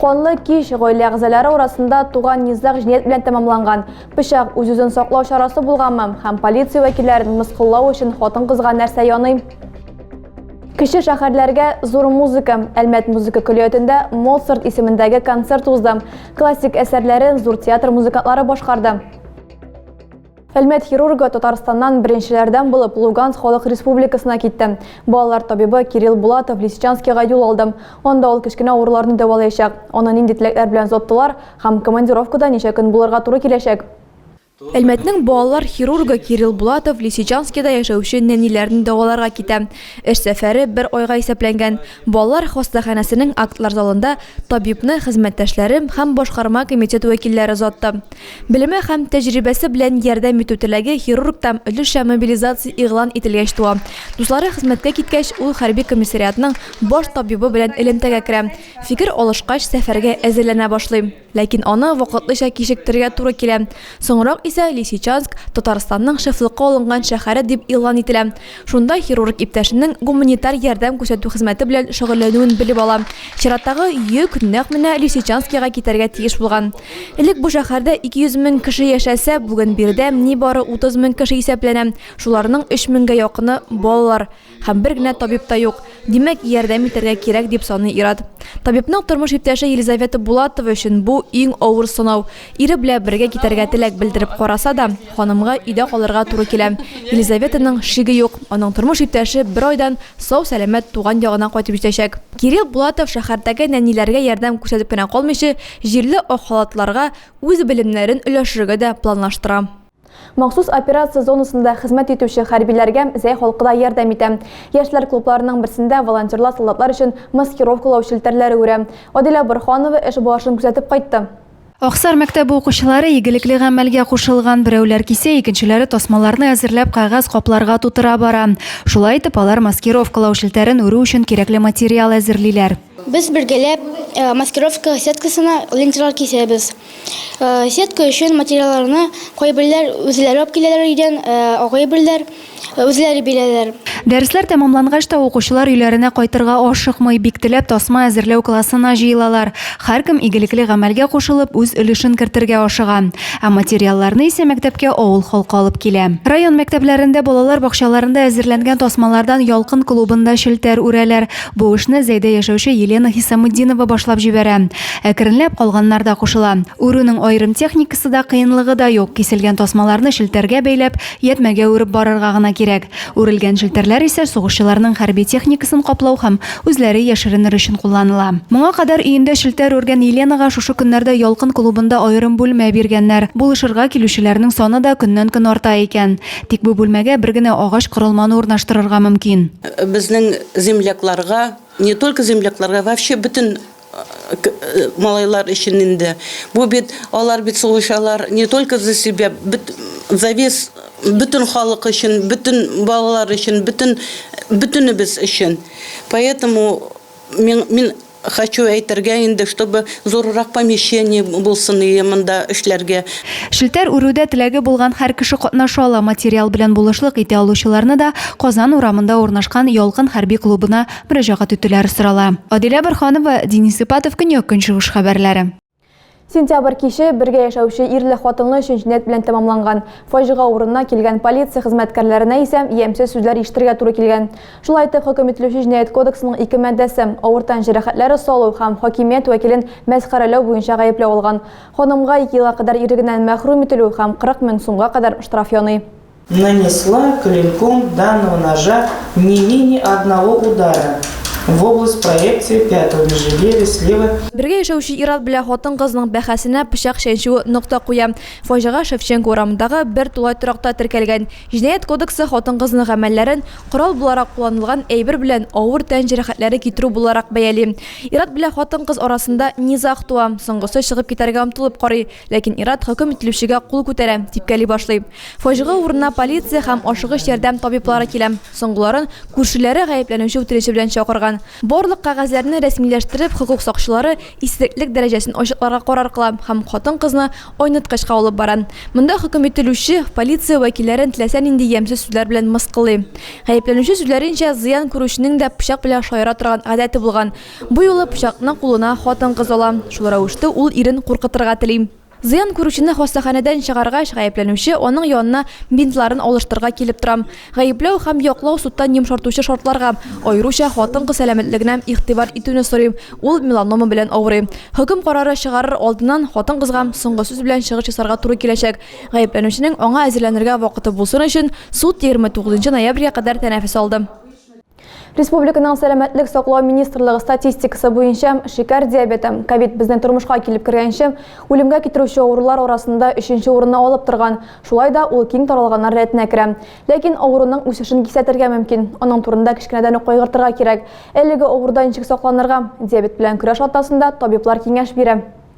Канлы кич гаилә әгъзалары арасында туган низаг җинаять белән тәмамланган. Пычак үз-үзен саклау чарасы булганмы һәм полиция вәкилләрен мыскыллау өчен хатын-кызга нәрсә яный? Кече шәһәрләргә зур музыка. Әлмәт музыка көллиятендә Моцарт исемендәге концерт узды. Классик әсәрләрен зур театр музыкантлары башкарды. Әлмәт хирургы Татарстаннан беренчеләрдән булып Луганск халык республикасына китте. Балалар табибы Кирилл Булатов Лисичанскига юл алды. Анда ул кечкенә авыруларны дәвалаячак. Аны нинди теләкләр белән озаттылар һәм командировкада ничә көн булырга туры киләчәк? Әлмәтнең балалар хирургы Кирилл Булатов Лисичанскида яшәүче нәниләрне дәваларга китә. Эш сәфәре бер айга исәпләнгән. Балалар хастаханәсенең актлар залында табибны хезмәттәшләре һәм башкарма комитет вәкилләре озатты. Белеме һәм тәҗрибәсе белән ярдәм итү теләге хирургта өлешчә мобилизация игълан ителгәч туа. Дуслары хезмәткә киткәч, ул хәрби комиссариатның баш табибы белән элемтәгә керә. Фикер алышкач, сәфәргә әзерләнә башлый. Ләкин аны вакытлыча кичектерергә туры килә. Соңрак исә Лисичанск Татарстанның шефлыкка алынган шәһәре дип игълан ителә. Шунда хирург иптәшенең гуманитар ярдәм күрсәтү хезмәте белән шөгыльләнүен белеп ала. Чираттагы йөк нәкъ менә Лисичанскига китәргә тиеш булган. Элек бу шәһәрдә 200 мең кеше яшәсә, бүген биредә нибары 30 мең кеше исәпләнә, шуларның 3 меңгә якыны, балалар. Һәм бер генә табиб та юк. Димәк, ярдәм итәргә кирәк, дип саный ир-ат. Табибның тормыш иптәше Елизавета Булатова өчен бу, иң авыр сынау. Ире белә бергә китәргә теләк белдереп караса да, ханымга өйдә калырга туры килә. Елизаветаның шиге юк, аның тормыш иптәше бер айдан сау-сәламәт туган ягына кайтып җитәчәк. Кирилл Булатов шәһәрдәге нәниләргә ярдәм күрсәтеп кенә калмыйчы, җирле ак халатлыларга үз белемнәрен өләшергә дә планлаштыра. Махсус операция зонасында хезмәт итүче хәрбиләргә Зәй халкы да ярдәм итә. Яшьләр клубларының берсендә волонтерлар солдатлар өчен маскировкалау челтәрләре үрә. Адилә Борһанова эш барышын күзәтеп кайтты. Аксар мәктәбе укучылары игелекле гамәлгә кушылган. Берәүләр кисә, икенчеләре тасмаларны әзерләп кәгазь капларга тутыра бара. Шулай итеп, алар маскировкалау челтәрен үрү өчен кирәкле материал әзерлиләр. Без бергәләп маскировка сеткасына ленталар кисәбез. Сетка өчен материалларны кайберләр үзләре алып киләләр өйдән, кайберләр үзләре бирәләр. Дәресләр тәмамлангач та укучылар өйләренә кайтырга ашыкмый, бик теләп тасма әзерләү классына җыелалар. Һәркем игелекле гамәлгә кушылып, үз өлешен кертергә ашыга. Ә материалларны исә мәктәпкә авыл халкы алып килә. Район мәктәпләрендә балалар бакчаларында әзерләнгән тасмалардан Ялкын клубында челтәр үрәләр. Бу эшне Зәйдә яшәүче Елена Хисаметдинова башлап җибәрә. Әкренләп калганнар да кушыла. Үрүнең аерым техникасы да, кыенлыгы да юк, киселгән тасмаларны челтәргә бәйләп, ятьмәгә үреп барырга гына кирәк. Үрелгән челтәрләр исә сугышчыларның хәрби техникасын каплау һәм үзләре яшеренер өчен кулланыла. Моңа кадәр өендә челтәр үргән Еленага шушы көннәрдә Ялкын клубында аерым бүлмә биргәннәр. Булышырга килүчеләрнең саны да көннән-көн арта икән. Тик бу бүлмәгә бер генә агач корылманы урнаштырырга мөмкин. Безнең землякларга, не только землякларга, вообще бөтен малайлар өчен инде. Бу бит алар бит сугышалар не только за себя, за весь бөтен халык өчен, бөтен балалар өчен, бөтен бөтенебез өчен. Поэтому мин Хочу әйтергә инде, чтобы зуррак помещение булсын иде монда эшләргә. Челтәр үрүдә теләге булган һәр кеше катнаша ала, материал белән булышлык итә алучыларны да Казан урамында урнашкан Ялкын хәрби клубына мөрәҗәгать итүләре сорала. Адилә Борһанова, Денис Ипатов, Көньяк-Көнчыгыш хәбәрләре. Сентябрь киче бергә яшәүче ирле-хатынлы өчен җинәт белән тәмамланган. Фаҗига урынына килгән полиция хезмәткәрләренә исә ямьсез сүзләр ишетергә туры килгән. Шулай итеп, хөкем ителүче Җинаять кодексының ике маддәсе, авыр тән җәрәхәтләре салу һәм хакимият вәкилен мәсхәрәләү буенча гаепләү алган. Ханымга ике елга кадәр ирлегеннән мәхрүм ителү һәм 40 мең сумга кадәр штраф яный. Нанесла клинком данного ножа не менее одного удара в область проекции пятого межреберья слева. Бергә яшәүче ир-ат белән хатын-кызның бәхәсенә пычак чәнчүе нокта куя. Фаҗига Шевченко урамындагы бер тулай торакта теркәлгән. Җинаять кодексы хатын-кызның гамәлләрен корал буларак кулланылган әйбер белән авыр тән җәрәхәтләре китерү буларак бәяли. Ир-ат белән хатын-кыз арасында низаг туа. Соңгысы чыгып китәргә омтылып карый, ләкин ир-ат хөкем ителүчегә кул күтәрә, типкәли башлый. Фаҗига урынына полиция һәм ашыгыч ярдәм табиблары килә. Соңгыларын күршеләре гаепләнүче үтереше белән чакырган. Барлык кәгазьләрне рәсмиләштереп, хокук сакчылары исереклек дәрәҗәсен ачыкларга карар кыла һәм хатын-кызны айныткычка алып бара. Монда хөкем ителүче, полиция вәкилләрен теләсә нинди ямьсез сүзләр белән мыскыллый. Гаепләнүче сүзләренчә, зыян күрүченең дә пычак белән шаяра торган гадәте булган. Бу юлы пычакны кулына хатын-кыз ала, шул рәвештә ул ирен куркытырга тели. Зыян күрүчене хастаханәдән чыгаргач, гаепләнүче, аның янына бинтларын алыштырырга килеп тора. Гаепләү һәм яклау судтан йомшартучы шартларга, аеруча хатын-кыз сәламәтлегенә игътибар итүне сорый, ул меланома белән авырый. Хөкем карары чыгарыр алдыннан хатын-кызга соңгы сүз белән чыгыш ясарга туры киләчәк. Гаепләнүченең аңа әзерләнергә вакыты булсын өчен, суд егерме тугызынчы ноябрьгә кадәр тәнәфес алды. Республиканың сәламәтлек саклау министрлыгы статистикасы буенча, шикәр диабеты, ковид безнең тормышка килеп кергәнче, үлемгә китерүче авырулар арасында өченче урынны алып торган. Шулай да ул киң таралганнар рәтенә керә. Ләкин авыруның үсешен кисәтергә мөмкин. Аның турында кечкенәдән үк кайгыртырга кирәк. Әлеге авырудан ничек сакланырга? Диабет белән көрәш атнасында табиблар киңәш бирә.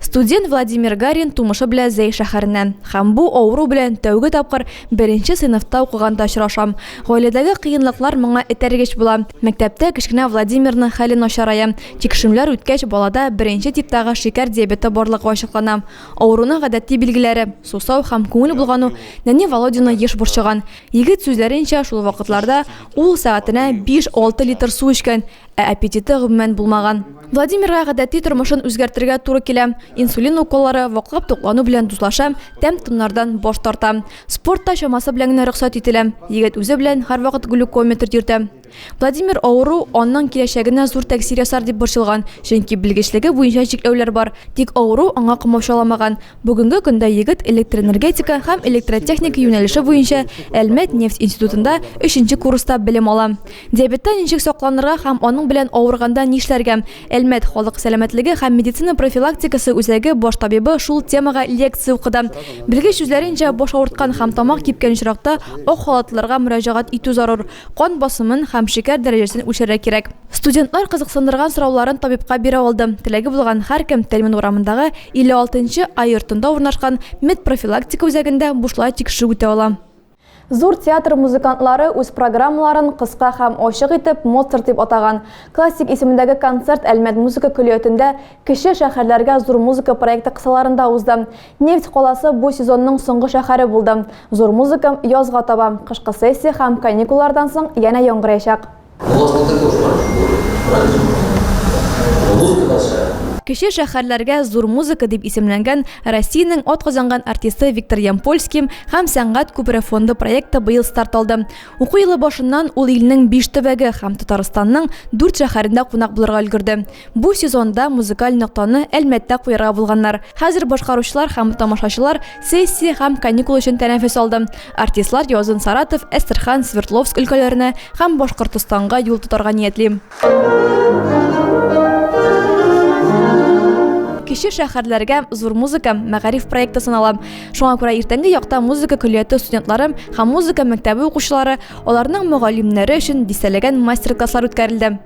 Студент Владимир Гарин тумышы белән Зәй шәһәреннән. Һәм бу авыру белән тәүге тапкыр беренче сыйныфта укыганда очрашам. Гаиләдәге кыенлыклар моңа этәргеч була. Мәктәптә кечкенә Владимирның хәле начарая. Тикшерүләр үткәч, балада беренче типтагы шикәр диабеты барлыгы ачыклана. Авыруның гадәти билгеләре, сусау һәм күңел болгану нәни Володяны еш борчыган. Егет сүзләренчә, шул вакытларда ул сәгатенә биш-алты литр су эчкән. Ә аппетиты, гомумән, булмаган. Владимирга гадәти тормышын үзгәртергә туры килә. Инсулин уколлары, ваклап туклану белән дуслаша, тәм-томнардан баш тарта. Спорт та чамасы белән генә рөхсәт ителә. Егет үзе белән һәрвакыт глюкометр йөртә. Владимир авыру аның киләчәгенә зур тәэсир ясар дип борчылган, чөнки белгечлеге буенча чикләүләр бар. Тик авыру аңа комачауламаган. Бүгенге көндә егет электроэнергетика һәм электротехника юнәлеше буенча Әлмәт нефть институтында өченче курста белем ала. Диабеттан ничек сакланырга һәм аның белән авырганда нишләргә? Әлмәт халык сәламәтлеге һәм медицина профилактикасы үзәге баш табибы шул темага лекция укыды. Белгеч сүзләренчә, баш авырткан һәм тамак кипкән очракта ак халатлыларга мөрәҗәгать итү зарур. Кан басымын һәм шикәр дәрәҗәсен үлчәргә кирәк. Студентлар кызыксындырган сорауларын табибка бирә алды. Теләге булган һәркем Тәлмин урамындагы 56 нчы А йортында урнашкан медпрофилактика үзәгендә бушлай тикшерү үтә ала. Зур театр музыкантлары үз программаларын кыска һәм ачык итеп Моцарт дип атаган классик исемендәге концерт Әлмәт музыка көллиятендә Кече шәһәрләргә зур музыка проекты кысаларында узды. Нефть каласы бу сезонның соңгы шәһәре булды. Зур музыка язга таба, кышкы сессия һәм каникуллардан соң янә яңгыраячак. Кече шәһәрләргә зур музыка дип исемләнгән Россиянең атказанган артисты Виктор Ямпольский һәм Сәнгать күпере фонды проекты быел старт алды. Уку елы башыннан ул илнең биш төбәге һәм Татарстанның дүрт шәһәрендә кунак булырга өлгерде. Бу сезонда музыкаль ноктаны Әлмәттә куярга булганнар. Хәзер башкаручылар һәм тамашачылар Сессия һәм каникул өчен тәнәфес алды. Артистлар язын Саратов, Әстерхан, Свердловск өлкәләренә һәм Башкортостанга юл тотарга ниятли. Кече шәһәрләргә зур музыка мәгариф проекты санала. Шуңа күрә иртәнге якта музыка көллияте студентлары һәм музыка мәктәбе укучылары, аларның мөгаллимнәре өчен дистәләгән мастер-класслар үткәрелде.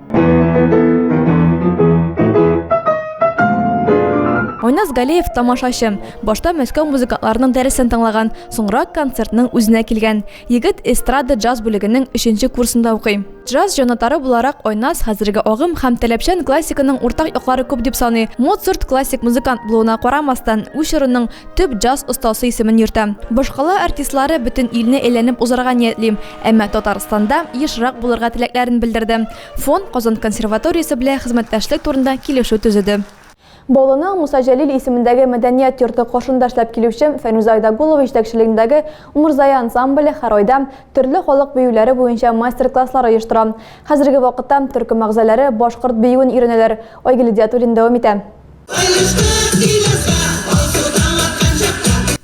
Айназ Галеев тамашачы. Башта Мәскәү музыкантларының дәресен тыңлаган, соңрак концертның үзенә килгән. Егет эстрада джаз бүлегенең өченче курсында укый. Джаз җанатары буларак Айназ хәзерге агым һәм таләпчән классиканың уртак яклары күп дип саный. Моцарт классик музыкант булуына карамастан, үз чорының төп джаз остасы исемен йөртә. Башкала артистлары бөтен илне әйләнеп узарга ниятлим, әмма Татарстанда ешрак булырга теләкләрен белдерде. Фонд Казан консерваториясе белә хезмәттәшлек турында килешү төзеде. Баулының Муса Җәлил исемендәге мәдәният йорты каршында эшләп килүче Фәнүзә Айдагулова җитәкчелегендәге Умырзая ансамбле һәр айда төрле халык биюләре буенча мастер-класслар оештыра. Хәзерге вакытта төркем әгъзаләре башкорт биюен өйрәнәләр, Айгөл Идиатуллина дәвам итә.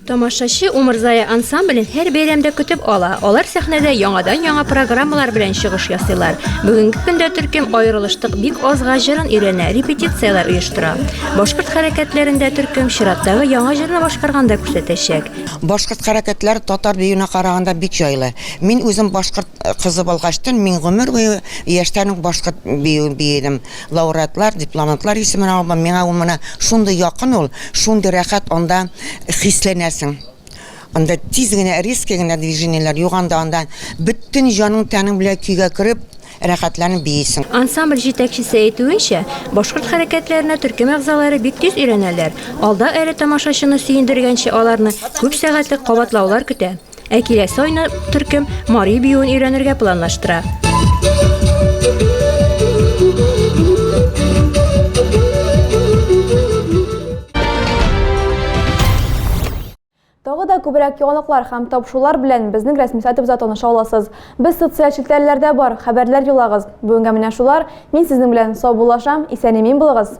Тамашачы Умырзая ансамблен һәр бәйрәмдә көтеп ала. Алар сәхнәдә яңадан-яңа программалар белән чыгыш ясыйлар. Бүгенге көндә төркем Аерылыштык бик азга җырын өйрәнә, репетицияләр оештыра. Башкорт хәрәкәтләрендә төркем чираттагы яңа җырны башкарганда күрсәтәчәк. Башкорт хәрәкәтләре татар биюенә караганда бик җайлы. Мин үзем башкорт кызы булгачтын, мин гомер буе яшьтән үк башкорт биюен биедем. Лауреатлар, дипломантлар исемен алу, миңа ул менә шундый якын ул, шундый рәхәт анда хисләнәсең. Анда тиз генә, резкий генә движениеләр юк анда, анда бөтен җаның-тәнең белән көйгә кереп, рәхәтләнеп биисең. Ансамбль җитәкчесе әйтүенчә, башкорт хәрәкәтләренә төркем әгъзалары бик тиз өйрәнәләр, алда әле тамашачыны сөендергәнче аларны күп сәгатьлек кабатлаулар көтә. Ә киләсе айны төркем Мари биюен өйрәнергә планлаштыра. Тагы да күбрәк яңалыклар һәм тапшырулар белән безнең рәсми сайтыбызда таныша аласыз. Без социаль челтәрләрдә бар, хәбәрләр юлагыз. Бүгенгә менә шулар. Мин сезнең белән саубуллашам, исән-имин булыгыз.